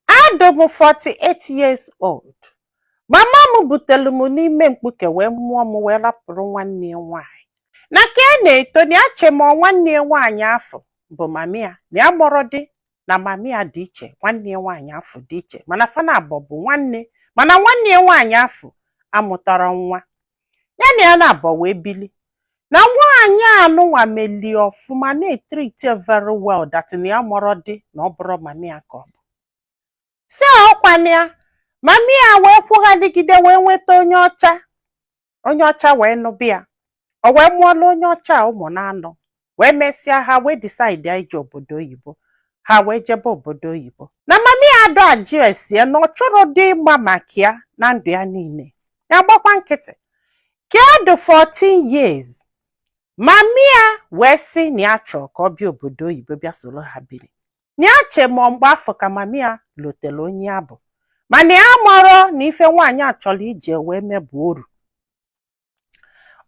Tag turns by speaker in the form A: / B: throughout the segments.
A: Adụ m 48 years old. Mama m butere m n'ime mkpuke wee mụọ m wee rapụrụ nwanne ya nwaanyị. Na ka a na-eto na ya che ma nwanne ya nwaanyị afụ bụ mami ya na ya marọ dị na mami ya dị iche nwanne ya nwaanyị afụ dị iche mana fa naabọ bụ nwanne mana nwanne ya nwaanyị afụ amụtarọ nwa ya na ya naabọ wee bili na nwaanyị anụnwa melie ọfụma na-etreat very well that na ya marọ dị na ọ bụrọ mami ya ka ọ bụ sị ọkwanụ ya mami ya wee kwụghaligide wee nweta onye ọcha onye ọcha wee nụba ya o wee mụọlụ onye ọcha ụmụ na-anọ wee mesịa ha wee decide ije obodo oyibo ha wee jebe obodo oyibo na mami ya adụ ajụ ese ya na ọ chọrọ dị ịma maka ya na ndụ ya niile ya gbakwa nkịtị ka ọ dị 14 years mami ya wee sị na ya chọrọ ka ọ bịa obodo oyibo bịa soro ha biri na ya che ma mgbe afụ ka mami ya lotele onye ya bụ mana ya marọ na ife nwaanyị a chọrọ iji ya wee mee bụ oru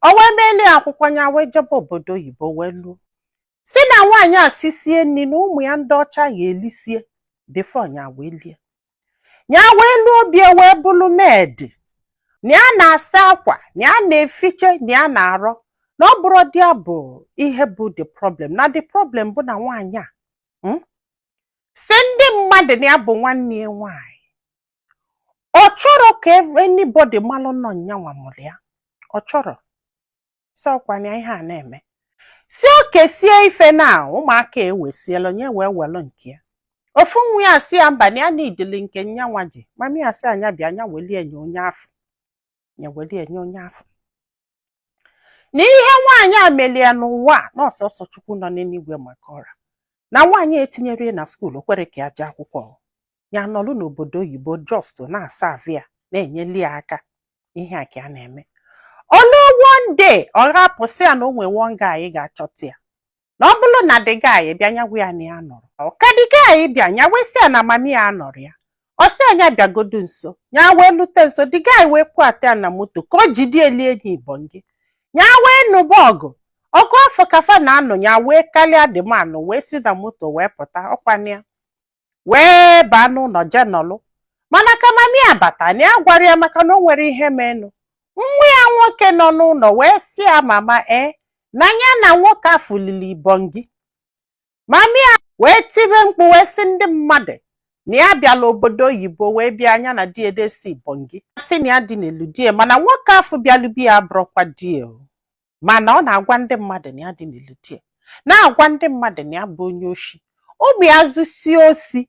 A: o wee meeli akwụkwọ ya wee jebe obodo oyibo wee luo sị na nwaanyị a sisie nri na ụmụ ya ndị ọcha ha elisie before ya wee lie ya wee luo be ya wee bụrụ maid na ya na-asa akwa na ya na-efiche na ya na-arụ na ọ bụrọ dị ya bụ ihe bụ the problem na the problem bụ na nwaanyị a sị ndị mmadụ na ya bụ nwanne ya nwaanyị ọ chọrọ ka anybody malụ na ọ nyanwa mụrụ ya ọ chọrọ sị ọkwanụ ya ihe a na-eme sị o kesie ife na ụmụaka ewesiela onye wee welụ nke ya ofu nwa ya sị ya mba na ya na-ejili nke nyanwa ji mami ya sị nya bịa nya welie nye onye afụ ya were enye onye afụ na ihe nwaanyị a melie n'ụwa na ọ sọọsọ chukwu nọ n'eluigwe ma ka ọ ra na nwaanyị etinyerọ ya na skuul o kwerọ ka ya jee akwụkwọ ya nọlụ n'obodo oyibo just na-asa avia na-enyeli ya aka ihe a ka a na-eme o luo one day ọra pụsịa na o nwee one guy ga-achọta ya na ọ bụrụ na the guy bịa nya gwa ya na ya nọrọ ka the guy bịa nya wee sị ya na mami ya nọrọ ya ọ sị nya bịagodu nso nya wee lute nso the guy wee kwata ya na moto ka o jide eli enyi ibongị nya wee nụba ọgụ ọgụ afụ ka fa na-anụ nya wee karịa the man wee si na moto wee pụta ọkwanụ ya wee baa n'ụlọ jee nọlụ mana ka mami ya bata na ya agwarọ ya maka na o nwerọ ihe menụ nwa ya nwoke nọ n'ụlọ wee sị ya mama ee na ya na nwoke afụ lili ibongị mami ya wee tibe mkpu wee sị ndị mmadụ na ya bịala obodo oyibo wee bịa nya na die elisi ibongị sị na ya dị n'elu die mana nwoke afụ bịalụ be ya abụrọkwa die o mana ọ na-agwa ndị mmadụ na ya dị n'elu die na-agwa ndị mmadụ na ya bụ onye oshi ụmụ ya zusie oshi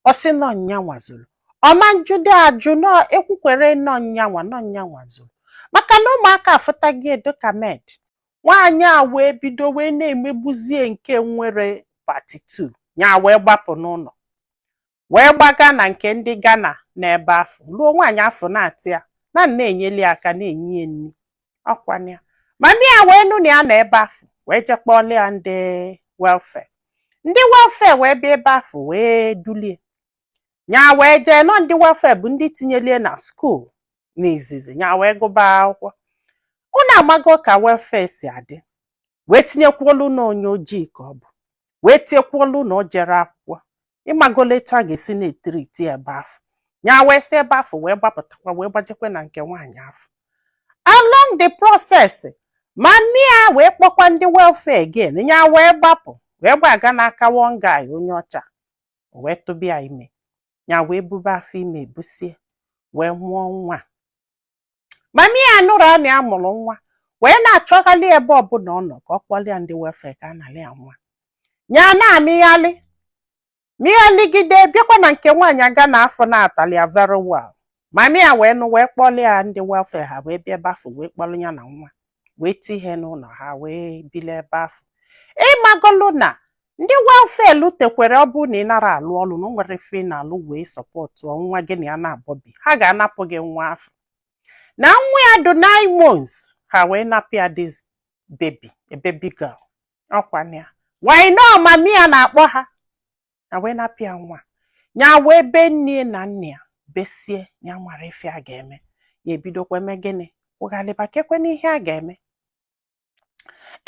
A: ọ sị nọ nyanwa zuru ọ ma ajụdị ajụ nọ ekwukwere nọ nyanwa nọ nyanwa zuru maka na ụmụaka afụtaghị edo ka maid nwaanyị a wee bido wee na-emegbuzie nke nwere part 2 ya wee gbapụ n'ụlọ wee gbaga na nke ndị Ghana n'ebe afụ ruo nwaanyị afụ na-atraị ya na na-enyeli aka na-enye ya nri ọkwana ya mami ya wee nụ na ya nọ ebe afụ wee jee kpọọlụ ya ndị welfare ndị welfare wee bịa ebe afụ wee dulie ya wee jee nọ ndị welfare bụ ndị tinyelie na skuul n'izizi ya wee gụba akwụkwọ unu amago ka welfare si adị wee tinyekwuolu na onye ojii ka ọ bụ wee tinyekwuolu na o jere akwụkwọ ịmagola etu a ga-esi na-etiriti ya ebe afụ ya wee si ebe afụ wee gbapụtakwa wee gbajekwa na nke nwaanyị afụ along the process mami ya wee kpọkwa ndị welfare again ya wee gbapụ wee gbaga n'aka one guy onye ọcha wee tụba ya ime ya wee bube afọ ime ebusie wee mụọ nwa mami ya nụrụ na ya mụrụ nwa wee na-achọghalị ebe ọbụla ọ nọ ka ọ kpọlị ya ndị welfare ka a nalị ya nwa ya na-amịghalị mịghaligide bịakwa na nke nwaanyị Ghana afụ na-atraịlị ya very well mami ya wee nụ wee kpọlị ya ndị welfare ha wee bịa ebe afụ wee kpọrọ ya na nwa wee tinye n'ụlọ ha wee bili ebe afụ ịmagolu na ndị welfare lutekwere ọ bụrụ na ị nara alụ ọlụ na o nwere ife ị na-alụ wee support nwa gị na ya na-abọ bi ha ga-anapụ gị nwa afụ na nwa ya dụ nine months ha wee napụ ya this baby a baby girl ọkwa na ya why na ọ mami ya na-akpọ ha ha wee napụ ya nwa ya wee bee nne na nna ya besie ya nwara ife a ga-eme ya ebidokwa mee gịnị kwụghalịba keekwanụ ihe a ga-eme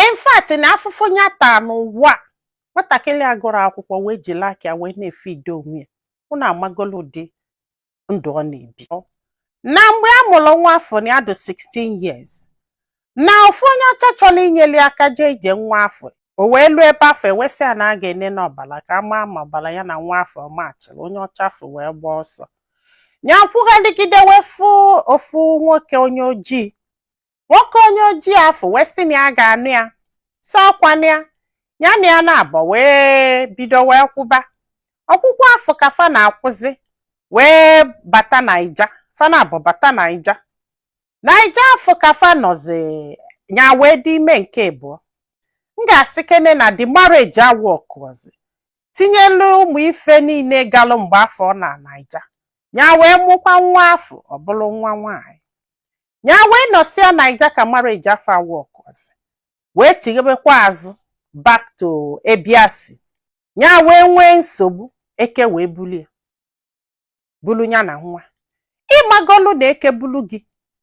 A: in fact na afụfụ ya taa n'ụwa nwatakịrị agụrọ akwụkwọ wee jiri aka ya wee na-efidi onwe ya unu amagolu ụdị ndụ ọ na-ebi na mgbe a mụrụ nwa afụ na ya dị 16 years na ofu onye ọcha chọrọ inyeli aka jee ije nwa afụ o wee luo ebe afụ e wee sị ya na a ga-ene n'ọbara ka a maa ma ọbara ya na nwa afụ machịrị onye ọcha afụ wee gbaa ọsọ ya kwụgharịgide wee fụ ofu nwoke onye ojii nwoke onye ojii afụ wee sị na ya ga-anụ ya si ọkwana ya ya na ya na-abọ wee bido wee kwụba ọkwụkwụ afụ ka fa na-akwụzi wee bata naija fa na-abọ bata naija naija afụ ka fa nọzi ya wee dị ime nke abụọ m ga-asị kene na the marriage awọkụzi tinyelu ụmụ ife niile galụ mgbe afụ na naija ya wee mụkwa nwa afụ ọ bụrụ nwa nwaanyị nya wee nọsịa naija ka marriage afụ awọkụzi wee chighebekwa azụ back to ebe ya si nya wee nwee nsogbu eke wee bulie bulu ya na nwa ị magolu na eke bulu gị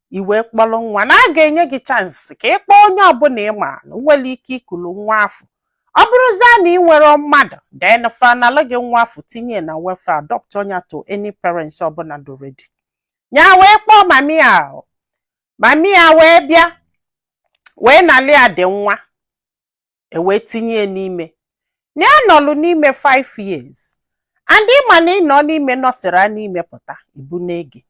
A: i wee kpọrọ nwa na a ga-enye gị chance ka ị kpọọ onye ọbụla ị ma na nwere ike ikulu nwa afụ ọ bụrụzie na i nwerọ mmadụ then fa analụ gị nwa afụ tinye na welfare adoptuo nya to any parents ọbụla dụ ready nya wee kpọọ mami ya mami ya wee bịa wee nalị ya the nwa e wee tinye ya n'ime na ya nọlụ n'ime 5 years and ị ma na ị nọọ n'ime nọsịra n'ime pụta e bunaa gị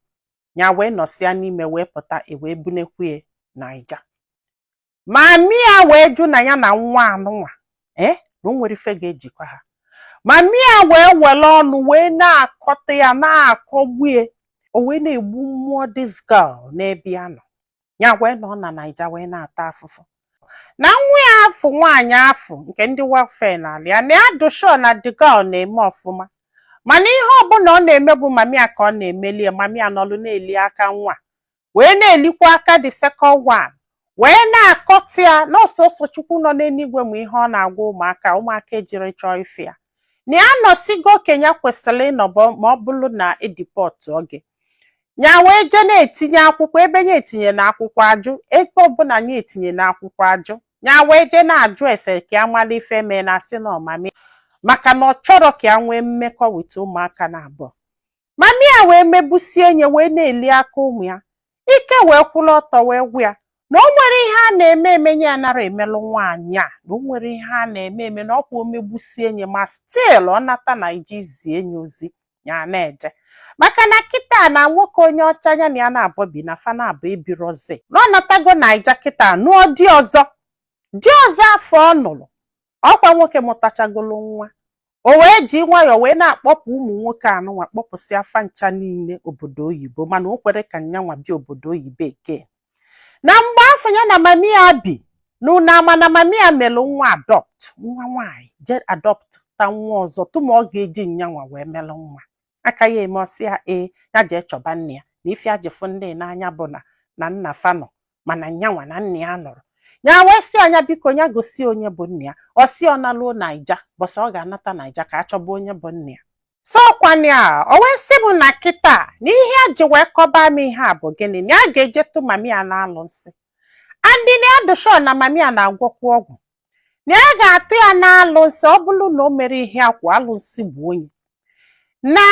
A: nya wee nọsịa n'ime wee pụta e wee bunakwu ya naija mami ya wee jụ na ya na nwa anụnwa ee eh, na o nwerọ ife ga-ejikọ ha mami ya wee were ọnụ wee na-akọtọ ya na-akọgbu ya o wee na-egbu mmụọ this girl n'ebe ya nọ ya wee nọ na naija wee na-ata afụfụ na nwa ya afụ nwaanyị afụ nke ndị welfare nalụ ya na ya dụ sure na the girl na-eme ọfụma mana ihe ọbụla ọ na-eme bụ mami ya ka ọ na-emeli ya mami ya nọlụ na-eli aka nwa wee na-elikwa aka the second one wee na-akọtọ ya na ọ sọsọ chukwu nọ n'eluigwe ma ihe ọ na-agwa ụmụaka ụmụaka ejirọ chọọ ịfụ ya na ya anọsịgo oge nya kwesịrị ịnọ bụ ma ọ bụrụ na e deportuo gị nya wee jee na-etinye akwụkwọ ebe nya etinyena akwụkwọ a jụ ebe ọbụla nya etinyena akwụkwọ a jụ nya wee jee na-ajụ ese ka ya mara ife mee na a sị na ọ mami maka na ọ chọrọ ka ya nwee mmekọ with ụmụaka naabọ mami ya wee megbusie nya wee na-eli aka ụmụ ya ike wee kwụrụ ọtọ wee gwụ ya na o nwerọ ihe a na-eme eme nya anarọ emelụ nwaanyị a na o nwerọ ihe a na-eme eme na ọkwa o megbusie nya ma still ọ nata naija zie nya ozi nya ana-eje maka na kịta na nwoke onye ọcha nya na ya naabọ bi na fa naabọ ebirozi na ọ natago naija kịta nụọ di ọzọ di ọzọ afụ ọ nụrụ ọkwa nwoke mụtachagolu nwa o wee ji nwayọọ wee na-akpọpụ ụmụ nwoke anụnwa kpọpụsịa fa ncha niile obodo oyibo mana o kwerọ ka nyanwa bịa obodo oyibo eke na mgbe afụ nya na mami ya bi n'ụnọ a mana mami ya melụ nwa adopt nwa nwaanyị je adoptta nwa ọzọ tụma ọ ga-eji nyanwa wee melụ nwa aka ya eme ọ sị ya ee ya jee chọba nna ya na ife ya ji fụ ndị a n'anya bụ na na nna fa nọ mana nyanwa na nna ya anọrọ nya wee sị ya nya biko ya gosi onye bụ nna ya ọ sị ọ naluo naija mbọsị ọ ga-anata naija ka a chọba onye bụ nna ya sọkwani a o wee sị m na kịta na ihe ya ji wee kọba m ihe a bụ gịnị na ya ga-eje tụọ mami ya n'alụsị and na ya dụ sure na mami ya na-agwọkwu ọgwụ na a ga-atụ ya n'alụsị ọ bụrụ na o mere ihe a ka alụsị gbuo ya na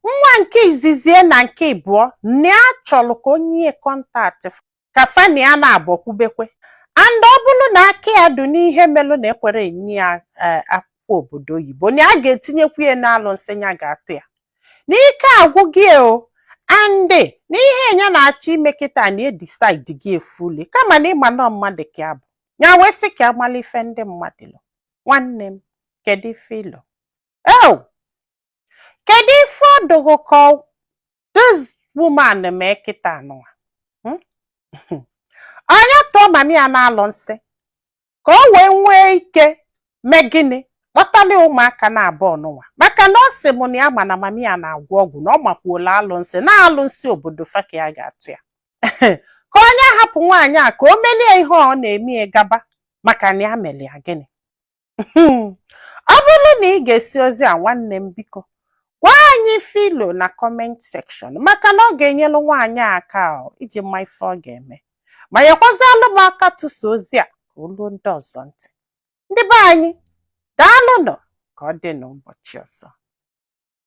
A: nwa nke izizie na nke ịbụọ na ya chọrọ ka o nye ya kọntaktị ka fa na ya naabọ kwubekwe and ọ bụrụ na aka ya dị n'ihe melụ na ekwerọ enye ya eh, akwụkwọ obodo oyibo na a ga-etinyekwu ya n'alụsị ya ga-atụ ya na ike agwụgo ya o and na ihe nya na-achọ ime kịta na edisaidigo ya fully kama na ịma na mmadụ ka ya bụ ya wee sị ka a malụ ife ndị mmadụ lo nwanne m kedu ife i lo oh kedu ife ọ dị gị ka this woman mee kịta nụwa hmm? ọ nya tụọ mami ya n'alụsị ka o wee nwee ike mee gịnị kpọtala ụmụaka naabọ nụnwa maka na ọ sị m na ya ma na mami ya na-agwọ ọgwụ na ọ makwuola alụsị na alụsị obodo fa ka ya ga-atụ ya ka ọ nya hapụ nwaanyị a ka o melie ihe ọ na-eme ya gaba maka na ya mere ya gịnị ọ bụrụ na i gesịa ozi a nwanne m biko gwa anyị ife i lo na kọment sekshọn maka na ọ ga-enyelu nwaanyị a aka iji ma ife ọ ga-eme ma nyekwazialụ m aka tụsa ozi a ka o luo ndị ọzọ ntị ndị be anyị daalụnụ ka ọ dị n'ụbọchị ọzọ